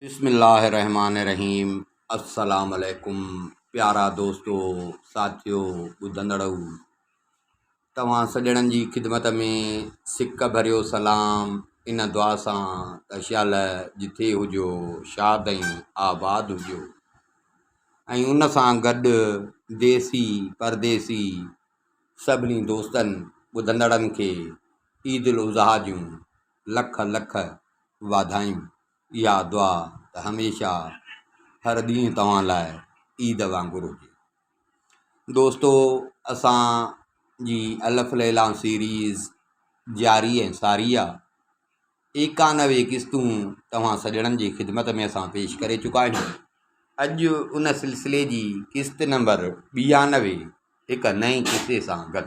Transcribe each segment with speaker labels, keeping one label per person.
Speaker 1: بسم الله الرحمٰن الرحيم السلام عليڪم پيارا دوستو ساٿيو ٻڌندڙئو توهان سڄڻن جي خدمت ۾ سڪ ڀريو سلام ان دعا سان ته شال جٿي هجو شاد ۽ آباد هجو ۽ ان سان گڏ ديسي پرديسي سڀني دوستن ٻڌندڙن کي عيد الاضحيٰ جون لک لک واڌايون اها دعا ته هميشه هر ڏينهن توهان لاء عيد وانگر هجي دوستو اسان جي الف ليلا سيريز جاري ۽ ساري آ ايڪانوي قسطون توهان سڄڻن جي خدمت ۾ اسان پيش ڪري چڪا آهيون اڄ ان سلسلي جي قسط نمبر ٻيانوي هڪ نئين قصي سان گڏ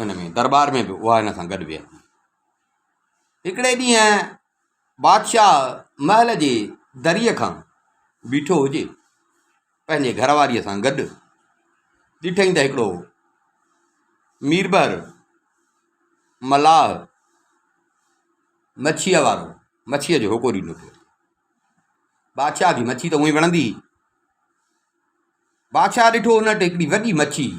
Speaker 1: ان ۾ دربار ۾ به اها ان سان گڏ ويهي ٿي. هڪڙي ڏينهن بادشاهه محل جي دريء کان بيٺو هجي، پنهنجي گهر واريء سان گڏ، ڏٺئي ته هڪڙو ميربحر ملاح مڇيء وارو مڇيء جو هوڪو ڏيندو پيو اچي. بادشاهه کي مڇي ته اونهي وڻندي هئي. بادشاهه ڏٺو ان وٽ هڪڙي وڏي مڇي هئي.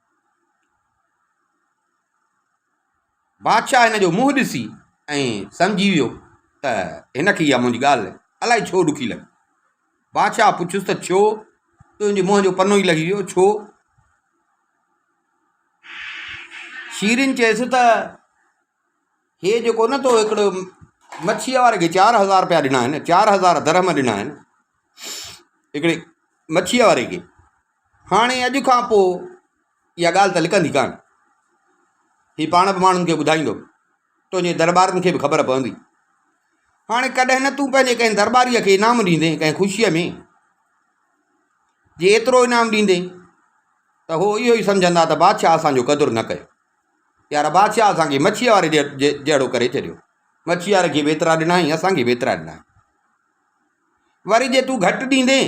Speaker 1: بادشاهه هن جو منهن ڏسي ۽ سمجهي ويو ته هن کي اها منهنجي ڳالهه الائي ڇو ڏکي لڳي. بادشاهه پڇيس ته ڇو تنهنجي منهن جو پنو ئي لهي ويو ڇو؟ شيرين چيس ته هي جيڪو نه تو هڪڙو مڇيء واري کي چار هزار رپيا ڏنا آهن چار هزار درهم ڏنا آهن هڪڙي مڇيء واري کي هاڻي اڄ کان پوء اها ڳالهه ته لڪندي ڪانه. هي پاڻ به ماڻهن کي ٻڌائيندو. تنهنجي درٻارين کي به خبر پوندي. هاڻي ڪڏهن نه تون پنهنجي ڪنهن درٻاريء کي انعام ڏيندين ڪنهن خوشيء ۾. جي ايترو انعام ڏيندين ته هو اهو ئي سمجهندا ته بادشاهه اسان جو قدر نه ڪيو. يار بادشاهه اسان کي مڇيء واري جهڙو ڪري ڇڏيو. مڇيء واري کي به ايترا ڏنائين، اسان کي به ايترا ڏنائين. وري جي تون گهٽ ڏيندين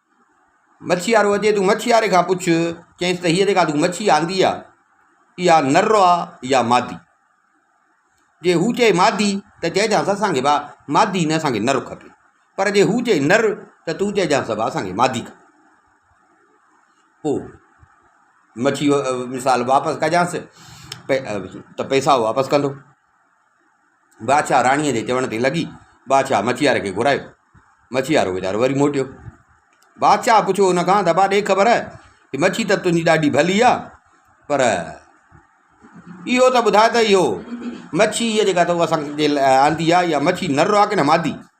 Speaker 1: مڇيوارو اچي تون مڇيواري کان پڇ چيس ته هيء جيڪا تون مڇي آندي آ اها نر آ يا مادي جي هو چئي مادي ته چئجانس اسانکي ڀا مادي نه اسانکي نر کپي پر جي هو چئي نر ته تون چئجانس ڀا اسانکي مادي کپي پوء مڇي مثال واپس ڪجانس ته پئسا واپس ڪندو بادشاهه راڻيء جي چوڻ تي لڳي. بادشاهه مڇيار کي گهرايو. مڇيار ويچارو وري موٽيو. بادشاهه پڇيو ان کان ته ابا ڏي خبر ته مڇي ته تنهنجي ڏاڍي ڀلي آ پر اهو ته ٻڌاء ته اهو مڇي هيء جيڪا تو اسان کي آندي آ اها مڇي نر آ ڪنه مادي؟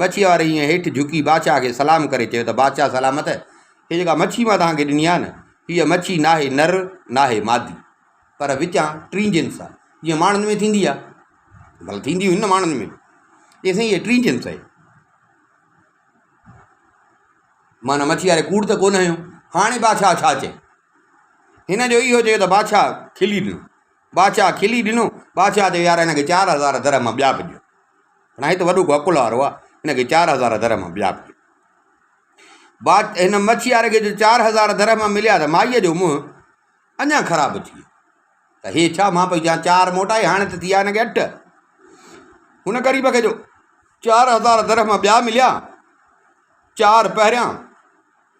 Speaker 1: مڇيء واري ائين هيٺ جهڪي بادشاهه کي سلام ڪري چيو ته بادشاهه سلامت، هيء جيڪا مڇي مان توهان کي ڏني آهي نه، هيء مڇي ناهي نر، ناهي مادي، پر وچان ٽين جنس آهي، جيئن ماڻهن ۾ ٿيندي آهي. ڀلا ٿيندي هوندي نه ماڻهن ۾ به. چيائين سائين هيء ٽين جنس آهي. مان ان مڇيء واري ڪوڙ ته ڪونه هنيو. هاڻي بادشاهه ڇا چئي؟ هن جو اهو چيو ته بادشاهه کلي ڏنو. بادشاهه کلي ڏنو. بادشاهه چيو يار هن کي چار هزار درهم ٻيا به ڏيو. هن هت وڏو گوڪل هارو آ هن کي چار هزار در مان ٻيا به بات هن مڇيار کي جو چار هزار در مان مليا ته مائيء جو منهن اڃا خراب ٿي ته هي ڇا مان پئي چان چار موٽائي هاڻي ته ٿي آ هن کي اٺ هن غريب کي جو چار هزار در مان ٻيا مليا چار پهريان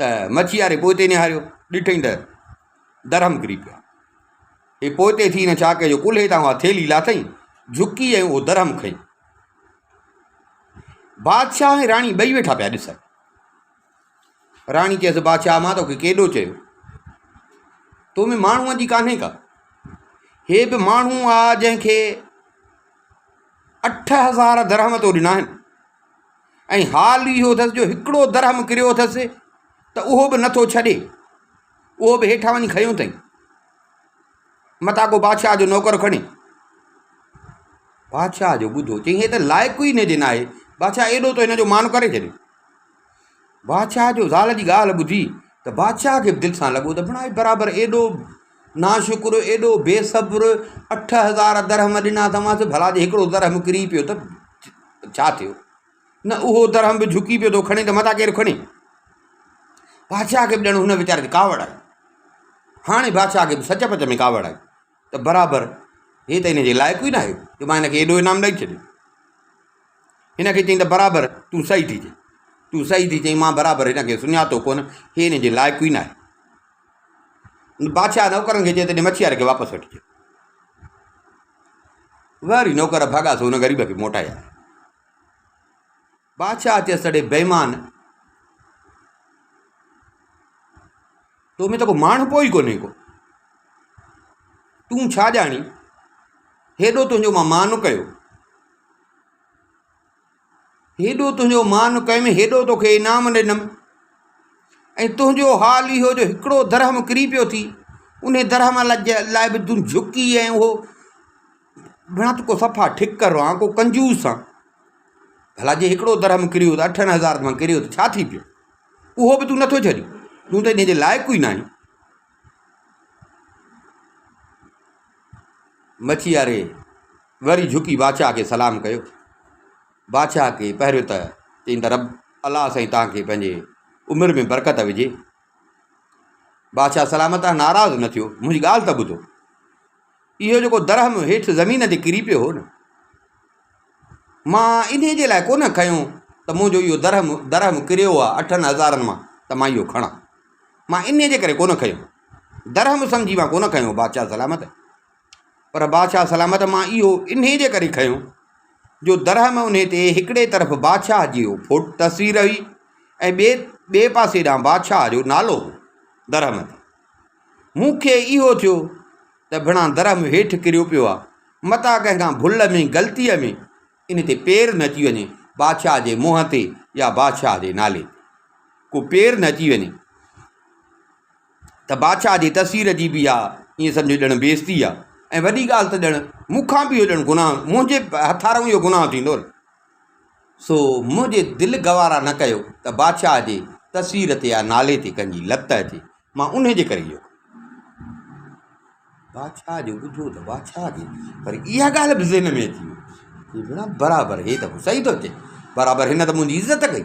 Speaker 1: ته مڇياري پوئتي نهاريو، ڏٺئين ته درهم ڪري پيا. اي پوئتي ٿي هن ڇا ڪيو جو ڪلهي تان اها ٿيلهي لاٿئين، جهڪي ۽ اهو درهم کنئي. بادشاهه ۽ راڻي ٻئي ويٺا پيا ڏسن. راڻي چيس بادشاهه مان توکي ڪيڏو چيو، تو ۾ ماڻهوء جي ڪانهي ڪا. هي به ماڻهو آ جنهن کي اٺ هزار درهم تو ڏنا آهن. ۽ حال اهو اٿس جو هڪڙو درهم ڪريو اٿس ته اهو به نٿو ڇڏي، اهو به هيٺان وڃي کنيو اٿئي، متان ڪو بادشاهه جو نوڪر کڻي. بادشاهه جو ٻڌو، چيائين هي ته لائق ئي هن جي ناهي، بادشاهه ايڏو ته هن جو مان ڪري ڇڏيو. بادشاهه جو زال جي ڳالهه ٻڌي ته بادشاهه کي به دل سان لڳو ته بڻائي برابر ايڏو ناشڪر ايڏو بي صبر، اٺ هزار درهم ڏنا اٿامانس، ڀلا جي هڪڙو درهم ڪري پيو ته ڇا ٿيو؟ نه اهو درهم به جهڪي پيو ٿو کڻي ته متان ڪير کڻي؟ بادشاهه کي به ڄڻ هن ويچاري تي ڪاوڙ آئي. هاڻي بادشاهه کي به سچ پچ ۾ ڪاوڙ آئي ته برابر هي ته هن جي لائق ئي نه آهي جو مان هن کي ايڏو انعام ڏئي ڇڏيان. هن کي چيائين ته برابر تون صحيح ٿي چئين. تون صحيح ٿي چئين، مان برابر هن کي سڃاتو ڪونه، هي هن جي لائق ئي نه آهي. بادشاهه نوڪرن کي چئي ته مڇي واري کي واپس وٺي اچ. وري نوڪر ڀڳا سو ان غريب کي موٽائي آيا بادشاهه چيس تڙي بيمان تو ۾ ته کو ماڻهو پوء ئي ڪونهي ڪو تون ڇا ڄاڻي هيڏو تنهنجو مان مان ڪيو هيڏو تنهنجو مان ڪيم، هيڏو توکي انعام ڏنم. ۽ تنهنجو حال اهو جو هڪڙو درهم ڪري پيو ٿي، انهي درهم لاء به تون جهڪي ۽ اهو ڀڻا ته ڪو صفا ٺڪر آن، ڪو ڪنجوس آن. ڀلا جي هڪڙو درهم ڪريو ته اٺن هزارن مان ڪريو ته ڇا ٿي پيو؟ اهو به تون نه ٿو ڇڏين، تون ته انهي جي لائق ئي ناهين. مڇياري وري جهڪي بادشاهه کي سلام ڪيو. بادشاهه کي پهريون ته چيائين ته رب الله سائين توهان کي پنهنجي عمر ۾ برڪت وجهي. بادشاهه سلام تان ناراض نه ٿيو، منهنجي ڳالهه ته ٻڌو. اهو جيڪو درهم هيٺ زمين تي ڪري پيو هو نه، مان انهي جي لاء ڪونه کنيو ته منهنجو اهو درهم درهم ڪريو آهي اٺن هزارن مان ته مان اهو کڻان. مان انهي جي ڪري ڪونه کنيو. درهم سمجهي مان ڪونه کنيو، بادشاهه سلامت پر بادشاهه سلامت مان اهو انهيء جي ڪري کنيو جو درهم انهيء تي هڪڙي طرف بادشاهه جي فوٽ تصوير هئي ۽ ٻئي ٻئي پاسي ڏانهن بادشاهه جو نالو هو درهم تي مون کي اهو ٿيو ته ڀڻا درهم هيٺ ڪريو پيو آهي متان ڪنهن کان ڀل ۾ غلطيء ۾ ان تي پير نه اچي وڃي بادشاهه جي منهن تي يا بادشاهه جي نالي تي ڪو پير نه اچي وڃي ته بادشاهه جي تصوير جي به اها ائين سمجهه ڄڻ بيعزتي آهي ۽ وڏي ڳالهه ته ڄڻ مون کان به اهو ڄڻ گناهه، منهنجي هٿارئون اهو گناهه ٿيندو نه. سو منهنجي دل گوارا نه ڪيو ته بادشاهه جي تصوير تي يا نالي تي ڪنهن جي لت اچي، مان انهيء جي ڪري اهو ڪيو. بادشاهه جو ٻڌو ته بادشاهه کي وري اها ڳالهه به ذهن ۾ اچي وئي، چي، ڀيڻا برابر هي ته صحيح ٿو چئي، برابر هن ته منهنجي عزت ڪئي.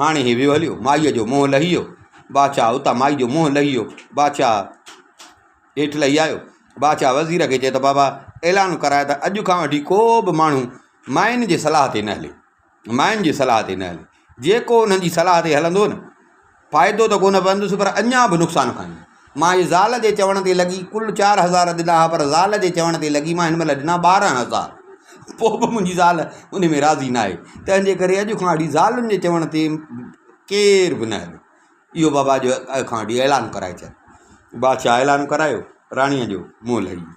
Speaker 1: هاڻي هي ويو هليو، مائيء جو منهن لهي ويو، بادشاهه اتان مائي جو منهن لهي ويو، بادشاهه هيٺ لهي آيو، بادشاهه وزير کي چئي ته بابا اعلان ڪراء ته اڄ کان وٺي ڪو به ماڻهو ماين جي صلاح تي نه هلي، ماين جي صلاح تي نه هلي، جيڪو انهن جي صلاح تي هلندو نه فائدو ته ڪونه پوندس پر اڃا به نقصان کائيندو. مان اهي زال جي چوڻ تي لڳي ڪل چار هزار ڏنا ها پر زال جي چوڻ تي لڳي مان هن مهل ڏنا ٻارهن هزار پوء به منهنجي زال ان ۾ راضي نه آهي تنهنجي ڪري اڄ کان وٺي زالن جي چوڻ تي ڪير به نه هلي اهو بابا جو اڄ کان وٺي اعلان ڪرائي ڇڏ بادشاهه اعلان ڪرايو راڻيء جو منهن لهي ويو